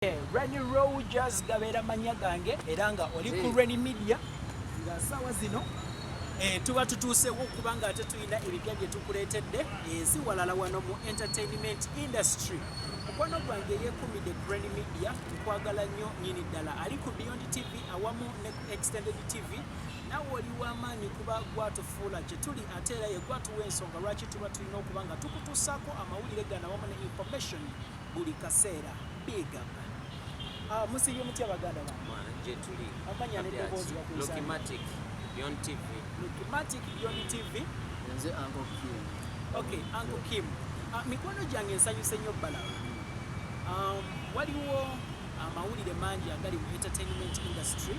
Eh, Rani Rogers gabeera manya gange era nga oli ku Rani Media nga saawa zino eh, tuba tutuusewo kubanga ate tulina ebipya bye tukuleetedde ensi eh, walala wano mu entertainment industry mukwano gwange yekumidde ku Rani Media nkwagala nnyo nyini ddala ali ku Beyond TV awamu ne ku Extended TV nawe oli w'amaanyi kuba gwatufuula kye tuli ate era ye gwatuwa ensonga lwaki tuba tulina okuba nga tukutuusaako amawulire gano awamu ne information buli kaseera big up ah, musiibye mutya baganda gyetuli amanya neddoboozi bakuzalukimatic byon tv lukimatic byon tv nze anko kim okay anko kim uh, mikwano gyange nsanyuse nnyo bala um, waliwo amawulire mangi agali mu entertainment industry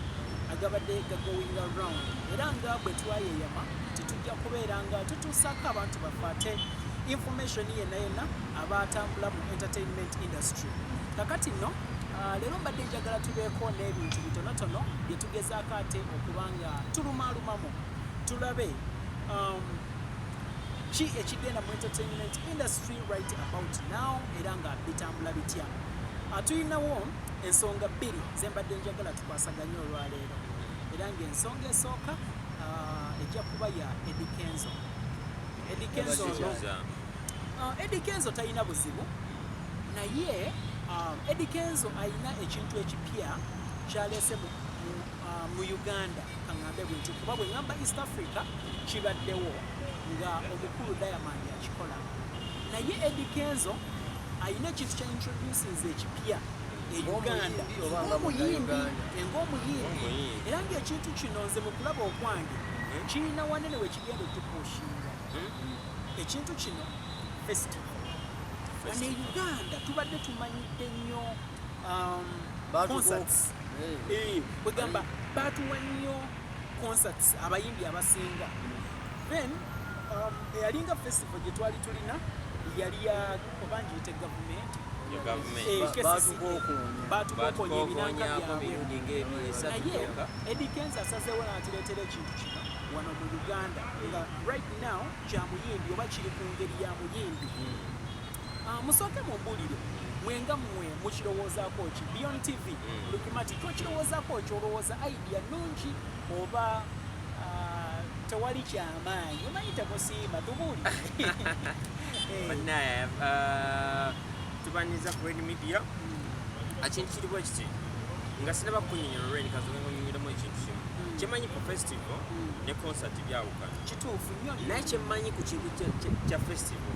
agabadde gagoinga round era nga bwe twayeyama tetujja kubeera nga tutuusaako abantu baffe ate information yenna yenna aba atambula mu entertainment industry kakati nno ah, leero mbadde njagala tubeeko n'ebintu bitonotono bye tugezaako ate okuba nga tulumaalumamu tulabe um, ki ekigenda mu entertainment industry right about now era nga bitambula bitya ah, tulinawo ensonga bbiri zembadde njagala tukwasaganye olwaleero era ngaensonga esooka ah, ejja kuba ya edikenzo edikenzo no ah, edikenzo talina buzibu naye edikenzo alina ekintu ekipya kyaleese mu Ah, mu uganda kaŋambe bwenti kuba bwe ŋamba east africa kibaddewo nga omukulu diamond akikola naye Eddy Kenzo alina ekintu kya introducings ekipya e Uganda ng'omuyimbi ng'omuyimbi era ng'ekintu kino nze mu kulaba okwange hmm? kirina wanene we kigenda otukuushinga hmm? ekintu kino festival bano e Uganda tubadde tumanyidde nnyo um, concerts kwegamba eh, batuwa nnyo concerts abayimbi abasinga then um, eyalinga festival gye twali tulina yali ya obangiyite gavumenti batukokonya ebinanga byabwenaye edi kenza asazeewo natireetera ekintu kino wano mu uganda nga right now kya muyimbi oba kiri ku ngeri ya muyimbi hmm. Ah, musooke mumbulire mwenga mwe mukirowoozaako ki beyond tv mm. lukimati kyokirowoozaako ki olowooza idea nungi oba ah, tewali kyamaanyi omanyi temusiima tubuuli banaye ah, tubanyiza ku red media mm. ekintu kiriwo kiti nga sinaba kunyonyola olweri kazoga ngonyonyolamu ekintu kimu mm. kyemanyi ku festival ne concert byawukana kituufu nyo naye kyemanyi ku kintu kya festival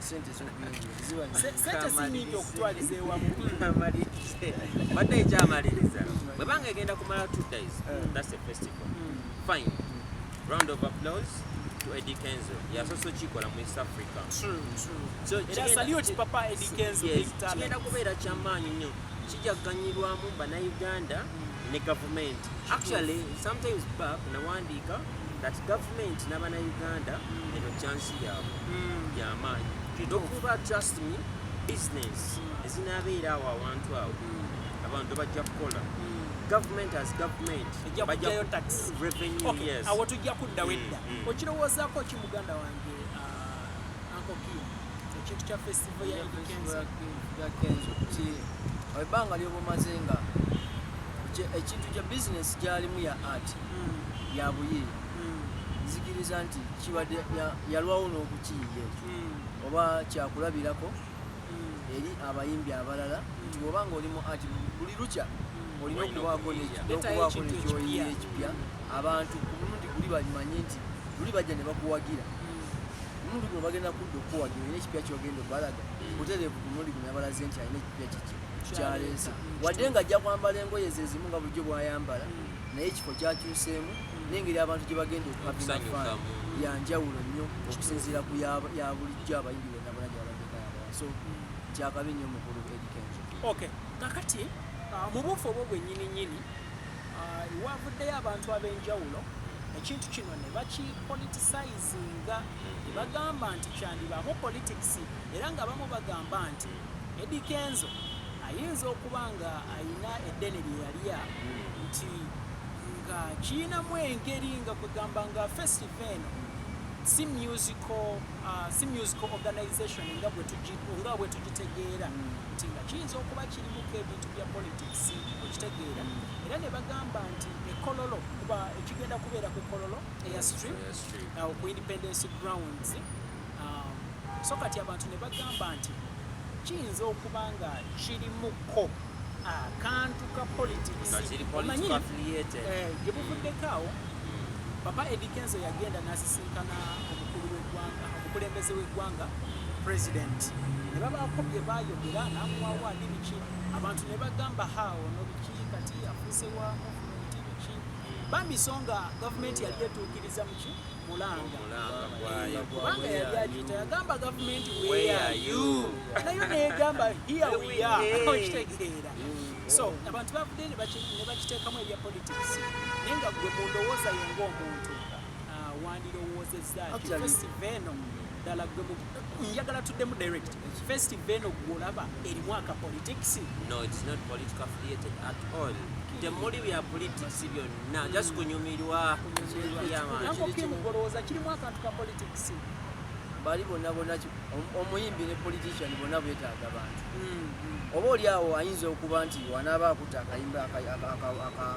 sente sinyingi okutwaliza ewamu badde ekyamaliriza bwebanga egenda kumala two days mm. that's a festival mm. fine round of applause to Eddie Kenzo yasoose okikola mu East Africa kigenda kubeera kyamaanyi nnyo kijaganyirwamu banauganda ne gavumenti actually sometimes bab nawandiika that government nabana uganda eno chance yaabwe mm. yamaanyi nokuba trust me business mm. ezinabeera awo awantu awo mm. abantu bajja kukola government as government bajjayo tax revenue yes awo tujja kudda wedda okirowoozako ki muganda wange Uncle Q, ekintu kya festival ya Eddy Kenzo. Ya Kenzo ki ebbanga lyoba omaze nga ekintu kya bizinesi gyalimu ya art hmm. ya buyiiya hmm. nzikiriza nti kibadde yalwawo n'okukiyiga ekyo hmm. oba kyakulabirako eri abayimbi abalala nti oba nga oli mu art buli lukya olina okubaako n'okubaako nekyoyiira ekipya abantu ku mulundi guli balimanye nti luli bajja ne bakuwagira omulundi guno bagenda kudda okuwagira olina ekipya kyogenda obalaga butereevu ku mulundi guno yabalaze nti alina ekipya kiki kyaleese wadde nga ajja kwambala engoye zezimu nga bulijjo bwayambala naye ekifo kyakyuseemu nengeri abantu gye bagenda okuhabimafaana yanjawulo nnyo okusinziira ku ya bulijjo abayimbi bonna bona gye babadde bayambala so kyakabi nnyo mukulu edikenzo okay kakati uh, mu buufu obwo bwenyini nyini uh, wavuddeyo abantu ab'enjawulo ekintu kino ne bakipolitisizinga ne bagamba nti kyandibaamu politics era nga bamu bagamba nti Eddy Kenzo ayinza okuba nga alina eddene lye yalya nti nga kiyinamu engeri nga kwegamba nga festive eno si musical uh, si musical organization nga bwe tugitegeera nti nga kiyinza okuba Muko ebintu bya politics okitegeera era ne bagamba nti ekololo kuba ekigenda kubeera ku kololo eya stream awo ku independence grounds um, so kati abantu ne bagamba nti kiyinza okuba nga kirimuko akantu ka politics omanyi eh, gye buvuddeko awo papa edikenzo yagenda nasisinkana omukulu w'eggwanga omukulembeze w'eggwanga pulezidenti ne babaako bye baayogera n'amuwawa ni biki abantu ne bagamba haawo no biki kati afuuse wa muvumenti biki bambi so nga gavumenti yali etuukiriza muki mulanga kubanga yali agiyita yagamba gavumenti weyayu nayo neyegamba hiya wiya okitegeera so abantu bavudde ne bakiteekamu ebya politics naye nga gwe mu ndowooza yo ng'omuntu Ah, wandirowoozezza ki festive eno ddala gwe njagala tuddemu direct festive eno gwolaba erimu aka politics no it's not political affiliated at all temuli bya politics byonna mm. just kunyumirwa yamaankokimugolowooza kirimu akantu ka politics bali bonna bona omuyimbi ne politician bonna bwetaaga bantu mm, mm. oba oli awo ayinza okuba nti wanaaba akuta akayimba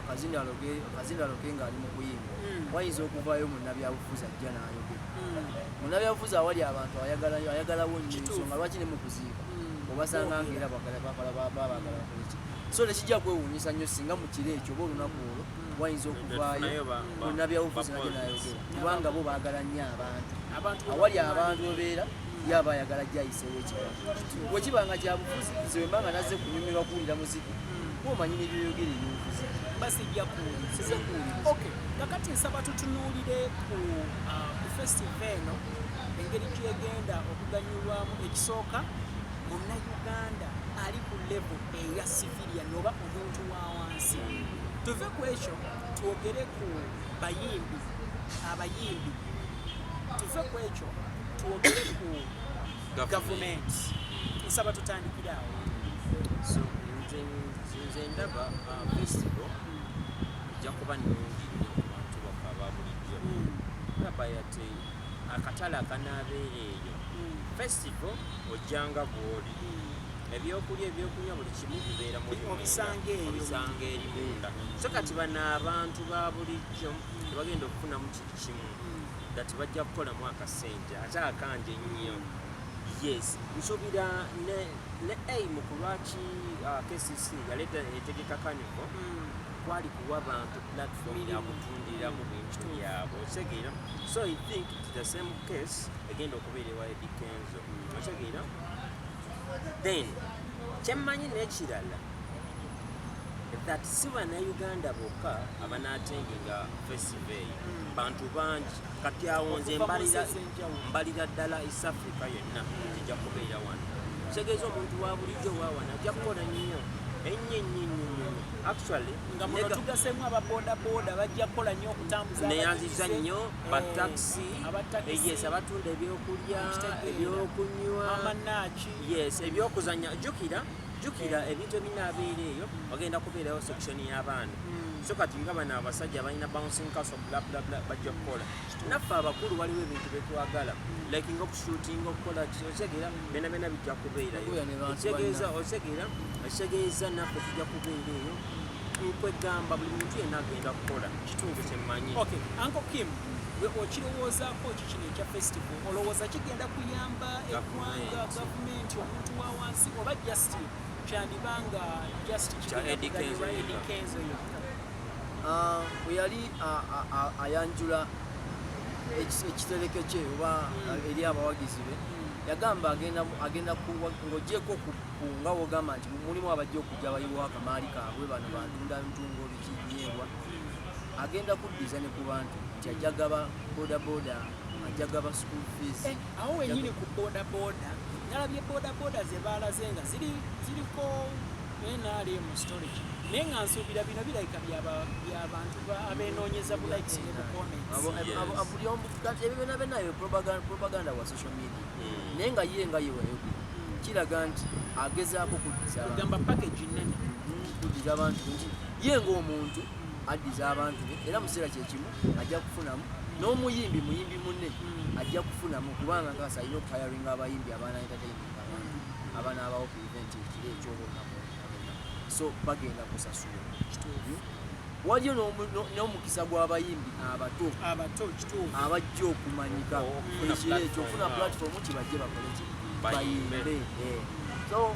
akazinaloke ng'ali mu kuyimba hmm. wayinza okuvaayo munnabyabufuzi ajja n'ayogera hmm. munnabyabufuzi awali abantu ayagalayo ayagalawo nnyo ensonga lwaki ne mu kuziika hmm. obasanga nga era bagala bakola babagala bakoleki so tekijja kwewuunyisa nnyo singa mu kiro ekyo oba olunaku olwo wayinza okuvaayo munnabyabufuzi najja n'ayogera kubanga bo baagala nnyo abantu awali abantu obeera yaba ayagala jayiseeyo ekigambo wekiba nga kyabufuzi nze wemba nga nazze kunyumirwa kuwulira muziki kuomanyi nebyoyogere ebyobufuzi basijja kuwuliriza ok kakati nsaba tutunuulire ku uh, festiva eno engeri gyegenda okuganyulwamu ekisooka munnauganda ali ku levo eya sivilia noba omuntu wa wansi tuve ku ekyo twogere ku bayimbi abayimbi tuve ku ekyo twogere ku gavumenti nsaba tutandikire awo nze ndaba uh, festival ejja kuba nungi nyo kubantu bafa babulijjo ndaba hmm. yate akatale akanaabeera eyo hmm. festival ojjanga bwoli hmm. ebyokulya ebyokunywa buli kimu bibeera mubisanga eri munda so kati bano abantu ba bulijjo tebagenda okufunamu kimu that bajja kukola mwaka sente ate akanje nnyo yes nsobira ne ne aim kulwaki uh, KCC yaleta etegeka kanivo mm. kwali kuwa bantu platform ya kutundira mu bintu byabo otegeera so i think it's the same case egenda okubeera ewa Eddy Kenzo mm. otegeera then kyemmanyi n'ekirala that si bannayuganda bokka abanaatendinga fesi bantu bangi kati awo nze mbalira ddala east africa yonna kijja kubeera wano kitegeeza omuntu wa bulijjo wawana ajja kukola nnyo ennyo ennyo ennyo actually nga muno tugasemu aba boda boda bajja kola nyo okutambuza neyanziza nyo eh, ba taxi yes abatunda ebyokulya ebyokunywa amanaki yes ebyokuzanya jukira jukira ebintu ebinaabeera eyo bagenda kubeerayo section y'abaana hmm. so kati nga bano abasajja balina bouncing castle blablabla bajja kukola naffe abakulu waliwo ebintu betwagala hmm. like nga okushootinga okukola otegera bena bena bijja kubeerayo otegeeza otegera ekitegeeza naffe tujja kubeera eyo nkwegamba buli muntu yenna agenda kukola kitundu kyemmanyi okay. Uncle Kim, we okirowoozaako ki kino ekya festival Olowooza kigenda kuyamba eggwanga, gavumenti, omuntu wa wansi oba just kyandiba nga just Eddy Kenzo yekka? Ah, bwe yali ayanjula ekitereke kye oba hmm. eri abawagizi be hmm. yagamba agenda ng'ogyeko nga wogamba nti mulimu abajja okujja bayiwa akamaali kaabwe bano bantunda ntungo bikinyeebwa hmm. agenda kuddiza ne ku bantu nti ajagaba boda boda ajja gaba school fees eh, awo wenyini ku boda boda nalabye boda boda zebaalaze nga ziri ziriko nrm storage naye nga nsuubira bino birabika byabantu abenoonyeza bu likes ne bu commentsbuli omu ebyo byona benayo propaganda wa social media hmm. naye nga ye nga yewayo hmm. kiraga nti agezaako kuddizagamba package nene hmm, kuddiza abantu nti ye ngaomuntu addiza abantu era mu kiseera kyekimu ajja kufunamu n'omuyimbi muyimbi munne hmm. ajja kufunamu kubanga nkakasa alina okuhayaringa abayimbi abaana entertainment abantu abaana abawo ku event ekiro ekyobonabo so bagenda kusasula waliyo n'omukisa gw'abayimbi abato abato abajja okumanyika ekiro ekyo okufuna platform kibajje bakole ki bayimbe eh. so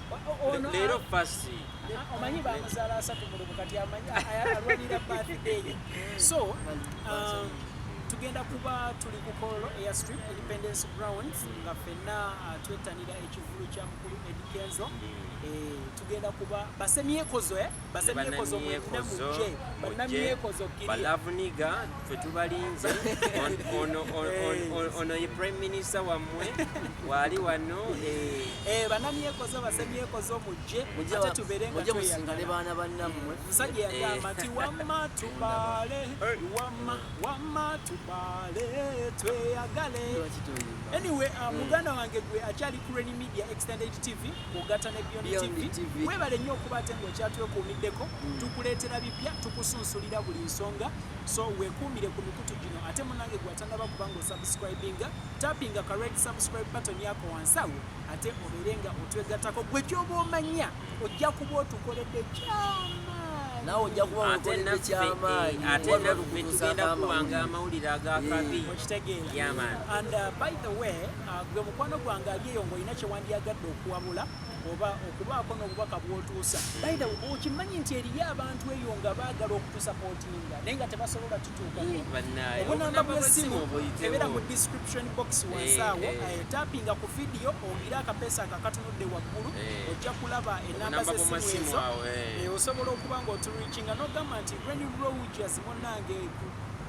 leero fasi omanyi bamuzaala asatu mulumu kati amanyi alwanira birthday so um, tugenda kuba tuli ku kololo eya street independence grounds nga fenna uh, twettanira ekivulu kya mukulu edikenzo eh, tugenda kuba basemyekozo eh? banamyekozo balavuniga fe tubalinze ono ye prime minister wammwe waali wano eh. Eh, banamyekozo basemyekozo mujje ate tuberengamusingale baana bannammwe eh. musajja yagamba nti wamma tubale wamma wamma tubale tweyagale anyway uh, mm. muganda wange gwe akyali crane media extended tv kugata ne Beyond TV webale nnyo okuba ate ng'okyatwekuumiddeko mm. tukuleetera bipya tukusunsulira buli nsonga so wekuumire ku mikutu gino ate munange gwatannaba kubanga osubscribinga tapinga ka red subscribe button yako wansi awo ate obeere nga otwegattako gwe kyoba omanya ojja kuba otukoledde kyama nawe ojja kuba okoledde kyamaanyi eh, ate naffe tugenda kuwanga amawulire agakabi mm. okitegeera and uh, by the way Ah, gwe mukwano gwange ali eyo ng'olina kye wandyagadde okuwabula oba okubaako n'obubaka bw'otuusa baithe okimanyi nti eriyo abantu eyo nga baagala okutusapootinga naye nga tebasobola tutuukaobunamba bwesimu ebeera mu description box wansaawo eh, eh. eh, tapinga ku vidiyo owulire akapeesa ako akatunudde waggulu ojja kulaba enamba zesimu ezo osobola okuba ng'oturuikinga n'ogamba nti reni roges munange